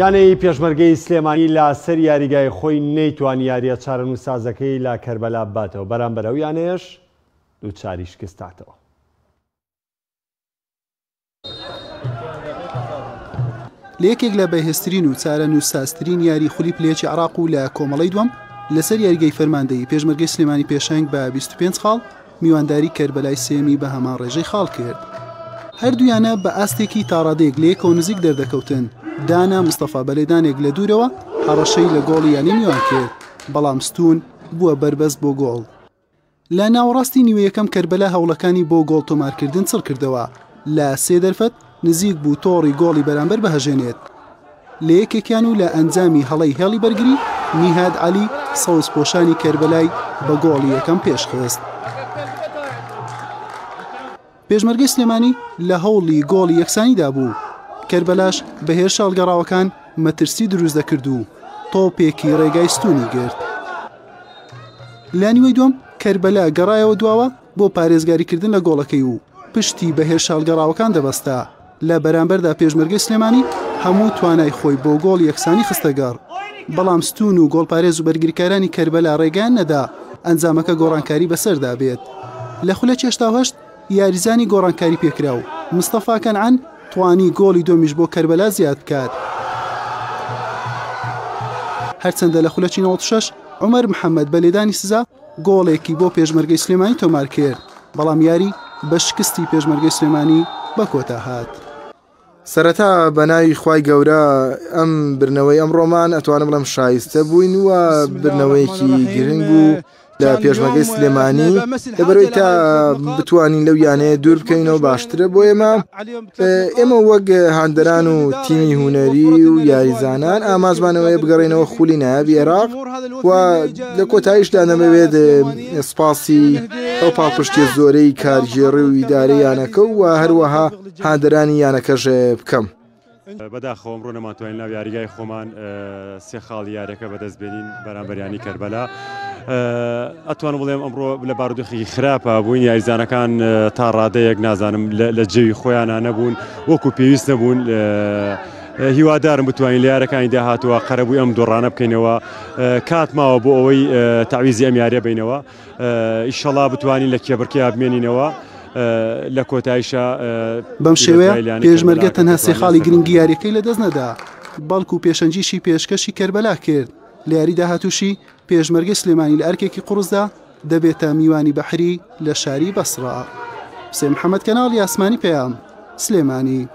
یانەی پێشمەرگەی سلێمانی لە سەر یاریگای خۆی نەیتوانی یاریە چارەنووسازەکەی لە کەربەلا بباتەوە بەرامبەر ئەو یانەیەش دووچاری شکستاتەوە. لە یەکێک لە بەهێزترین و چارەنووسسازترین یاری خولی پلێکی عراق و لە کۆمەڵی دوم لەسەر یاریگەی فەرماندەی پێشمەرگەی سلێمانی پێشنگ بە 25 خاڵ میوانداری کەربەلای سێیەمی بە هەمان ڕێژەی خاڵ کرد. هەردوویانە بە ئاستێکی تاڕادەیەک لەیەکەوە نزیک دەردەکەوتن، دانا مستەفا بە لێدانێک لە دوورەوە هەڕەشەی لە گۆڵی یانەی میوان کرد، بەڵام ستوون بووە بەربەست بۆ گۆڵ. لە ناوەڕاستی نیوەیەکەم کەربەلا هەوڵەکانی بۆ گۆڵ تۆمارکردن چڕکردەوە، لە سێ دەرفەت نزیک بوو تۆڕی گۆڵی بەرامبەر بهەژێنێت لە یەکێکیان و لە ئەنجامی هەڵەی هێڵی بەرگری نیهاد عەلی سەوزپۆشانی کەربەلای بە گۆڵی یەکەم پێشخست. پێشمەرگەی سلێمانی لە هەوڵی گۆڵی یەکسانیدا بوو کەربەلاش بە هێرشە هەڵگەڕاوەکان مەترسی دروست دەکرد و تۆپێکی ڕێگای ستونی گرت. لانیوەی دوم کەربەلا گەڕایەوە دواوە بۆ پارێزگاریکردن لە گۆڵەکەی و پشتی بە هێرشە هەڵگەڕاوەکان دەبەستا، لە بەرامبەردا پێشمەرگەی سلێمانی هەموو توانای خۆی بۆ گۆڵ یەکسانی خستەگەڕ، بەڵام ستوون و گۆڵپارێز و بەرگریکارانی کەربەلا ڕێگەیان نەدا ئەنجامەکە گۆڕانکاری بەسەردا بێت. لە خولەکی هەشتا و هەشت یاریزانی گۆڕانکاری پێکراو مستەفا کەنعان توانی گۆڵی دووەمیش بۆ کەربەلا زیاد بکات، هەرچەندە لە خولەکی نەوەد و شەش عومەر محەمەد بە لێدانی سزا گۆڵێکی بۆ پێشمەرگەی سلێمانی تۆمارکرد، بەڵام یاری بە شکستی پێشمەرگەی سلێمانی بە کۆتا هات. سەرەتا بەناوی خوای گەورە ئەم برنەوەی ئەمڕۆمان ئەتوانم بڵێم شایستە بووین و برنەوەیەکی گرنگ بوو لە پێشمەگەی سلێمانی لەبەرەوەی تا بتوانین لەو یانەیە دوور بکەینەوە باشترە بۆ ئێمە ئێمە وەک هاندەران و تیمی هوەری و یاریزانان ئامازمانەوەی بگەڕێنەوە خولی نایابی عێراق و لە کۆتاییشدا نەمەوێت سپاسی ئەو پاڵپشتی زۆرەی کارگێڕی و ئیدارە یانەکە و هەروەها هاندەرانی یانەکەش بکەم. بەداخەوەم ڕۆ نەماتوانین ناو یاریگای خۆمان سێ خاڵی یاریەکە بەدەست بێنین بەرامبەر یانەی کەربەلا ئەتوانم بڵێم ئەمڕۆ لە بارودۆخێکی خراپە بووین یاریزانەکان تا ڕادەیەک نازانم لە جێوی خۆیانە نەبوون وەکو پێویست نەبوون هیوادارم بتوانین لە یارەکانی داهاتوە قەرەبووی ئەم دۆڕانە بکەینەوە کات ماوە بۆ ئەوەی تاویزی ئەم یاریە بینەوە. ئیشەڵا بتوانین لە کێبڕکێیا بمێنینەوە لە کۆتایشا بەم شێوەیە پێشمەرگە تەنها سێ خاڵی گرنگی یاریەکەی لەدەست نەدا بەڵکو پێشەنگیشی پێشکەشی کەربەلا کرد لە یاری داهاتوشی پێشمەرگەی سلێمانی لە ئەرکێکی قوڕسدا دەبێتە میوانی بەحری لە شاری بەسڕا سێ محەممەد کەناڵی ئاسمانی پەیام سلێمانی